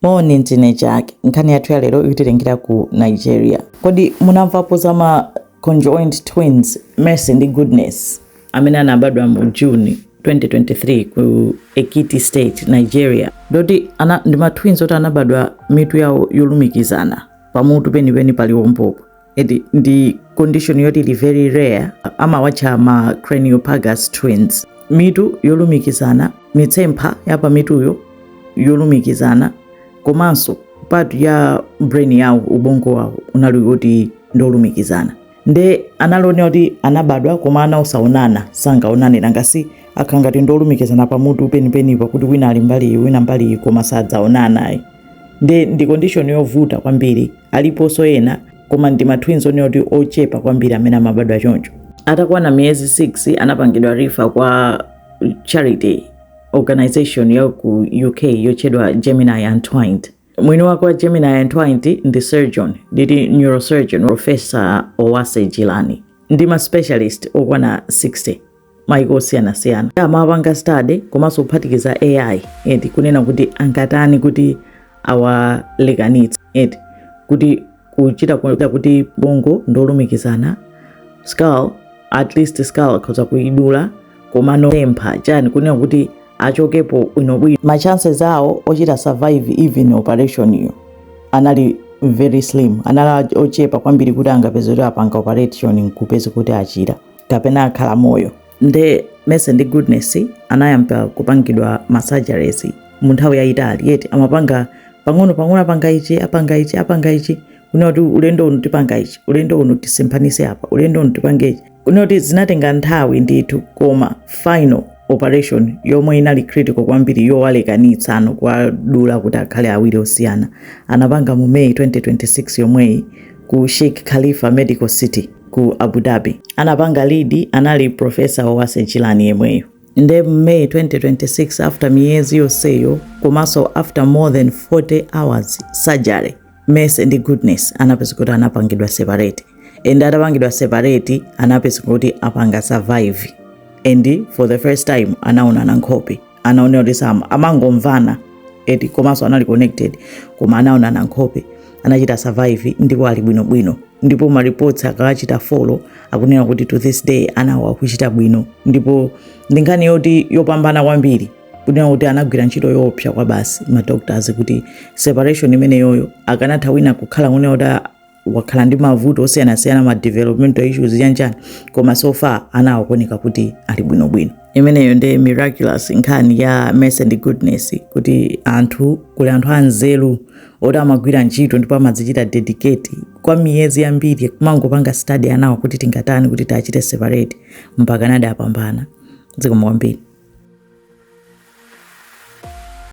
Moni ndine Jack. Nkhani yathu ya lero ikutitengera ku Nigeria. Kodi munamvapo za ma conjoined twins Mercy ndi Goodness amene anabadwa mu June 2023 ku Ekiti State, Nigeria? Ndoti ndi ma twins oti anabadwa mitu yawo yolumikizana pamutu penipeni paliwombopo. ndi condition yoti ili very rare amawatcha ma craniopagus twins mitu yolumikizana mitsempha ya pamituyo yolumikizana komanso part ya brain yawo ubongo wawo unali woti ndi wolumikizana nde anali onena kuti anabadwa koma ana osaonana sangaonane ngakhale akhala ngati ndolumikizana pamutu penipenipa kuti wina ali mbali iyi wina mbali iyi koma sadzaonana ayi nde ndi condition yovuta kwambiri aliponso ena koma ndi ma twins onena kuti ochepa kwambiri amene amabadwa choncho atakwana miyezi 6 anapangidwa refer kwa charity organization ya ku uk yotchedwa gemini untwined mwini wake wa gemini untwined ndi surgeon ndi neurosurgeon professor owase jeelani ndi ma specialist okwana 60 maiko osiyanasiyana amapanga study komanso kuphatikiza ai eti kunena kuti angatani kuti awalekanitse eti kuti kuchita kuita kuti ubongo ndolumikizana skull at least skull akhoza kuidula komano mitsempha chani kunena kuti achokepo bwinobwino ma chances awo ochita survive even operation iyo anali very slim anali ochepa kwambiri kuti angapeze kuti apanga operation nkupeze kuti achira kapena akhala moyo nde mercy ndi goodness anayamba kupangidwa masurgeries mu nthawi yayitali eti amapanga pang'ono pang'ono apanga ichi apanga ichi apanga ichi kunena kuti ulendo uno tipanga ichi ulendo uno tisemphanitse apa ulendo uno tipange ichi kunena kuti zinatenga nthawi ndithu koma final operation yomwe inali critical kwambiri yowalekanitsano kuwadula kuti akhale awiri osiyana anapanga mu may 2026 yomweyi ku sheikh khalifa medical city ku Abu Dhabi. Anapanga lead anali professor Owase Jeelani yemweyo. Nde May 2026 after miyezi yonseyo komanso after more than 40 hours surgery Mercy ndi Goodness anapezeka kuti anapangidwa separate and atapangidwa separate anapezeka kuti apanga survive and for the first time anaonana nkhope anali onena kuti sama amangomvana eti komanso anali connected koma anaonana nkhope anachita survive ndipo ali bwinobwino ndipo maripoti akawachita follow akunena kuti to this day anawo akuchita bwino ndipo ndi nkhani yoti yopambana kwambiri kunena kuti anagwira ntchito yoopsa kwabasi madoctors kuti separation imeneyoyo akanatha wina kukhala kunena kuti wakhala ndi mavuto osiyanasiyana ma developmental issues chanchani koma so far anawo akuoneka kuti ali bwinobwino imeneyo ndi miraculous nkhani ya mercy ndi goodness kuti anthu kuli anthu anzeru oti amagwira ntchito ndipo amadzichita dedicate kwa miyezi yambiri kumangopanga study anawo kuti tingatani kuti tiwachite separate mpaka nadi apambana zikomo kwambiri